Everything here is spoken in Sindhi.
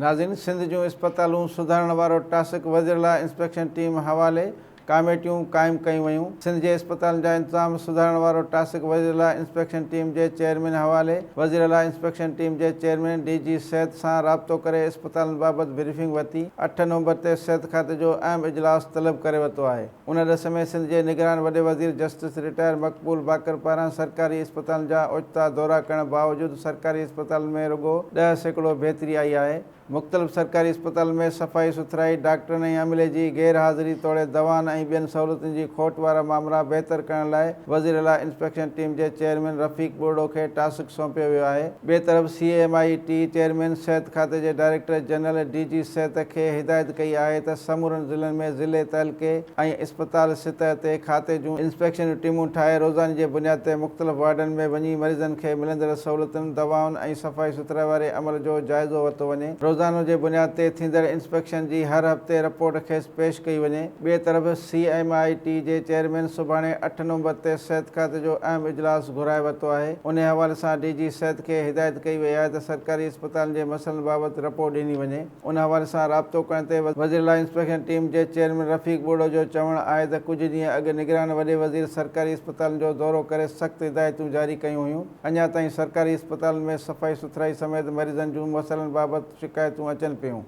ناظرين سنڌ جون اسپتالون سڌارڻ وارو ٽاسڪ وزير لا انسپيڪشن ٽيم حوالي ڪاميٽيون قائم ڪيون ويون سنڌ جي اسپتالن جا انتظام سڌارڻ وارو ٽاسڪ وزير لا انسپيڪشن ٽيم جي چيئرمين حوالي وزير لا انسپيڪشن ٽيم جي چيئرمين ڊي جي صحت سان رابطو ڪري اسپتالن بابت بريفنگ ورتي اٺ نومبر تي صحت کاتي جو اهم اجلاس طلب ڪري ورتو آهي. ان ڏس ۾ سنڌ جي نگران وڏي وزير جسٽس رٽائر مقبول باقر پاران سرڪاري اسپتالن جا اوچتا دورا ڪرڻ باوجود سرڪاري اسپتالن ۾ رڳو ڏهه سيڪڙو بهتري آئي آهي، مختلف سرڪاري اسپتالن ۾ صفائي سٿرائي، ڊاڪٽرن ۽ عملي جي غير حاضري توڙي دوائن ۽ ٻين سهولتن جي کوٽ وارا مامرا بهتر ڪرڻ لاء وزيراعليٰ انسپيڪشن ٽيم جي چيئرمين رفيق ٻرڙو کي ٽاسڪ سونپيو ويو آهي. ٻئي طرف C M I T chairman صحت کاتي جي ڊائريڪٽر جنرل ڊي جي صحت کي هدايت ڪئي آهي ته سمورن ضلعن ۾ ضلعي تعلقي ۽ اسپتال سطح تي کاتي جون انسپيڪشن جون ٽيمون ٺاهي روزاني جي بنياد تي مختلف وارڊن ۾ وڃي مريضن کي ملندڙ سهولتن دوائن ۽ صفائي سٿرائي واري عمل جو جائزو ورتو وڃي روزانو جي بنياد تي ٿيندڙ انسپيڪشن جي هر هفتي رپورٽ کيس پيش ڪئي وڃي ٻئي طرف سي ايم آء ٽي جي چيئرمين سڀاڻي اٺ نومبر تي صحت کاتي جو اهم اجلاس گهرائي ورتو آهي، انهي حوالي سان ڊي جي صحت کي هدايت ڪئي وئي آهي ته سرڪاري اسپتالن جي مسئلن بابت رپورٽ ڏني وڃي، ان حوالي سان رابطو ڪرڻ تي وزيراعليٰ انسپيڪشن ٽيم جي چيئرمين رفيق ٻوڙو جو چوڻ آهي ته ڪجهه ڏينهن اڳ نگران وڏي وزير سرڪاري اسپتالن جو دورو ڪري سخت هدايتون جاري ڪيون هيون، اڃا تائين سرڪاري اسپتالن ۾ صفائي سٿرائي سميت مريضن جون مسئلن بابت شڪايتون اچن پيون.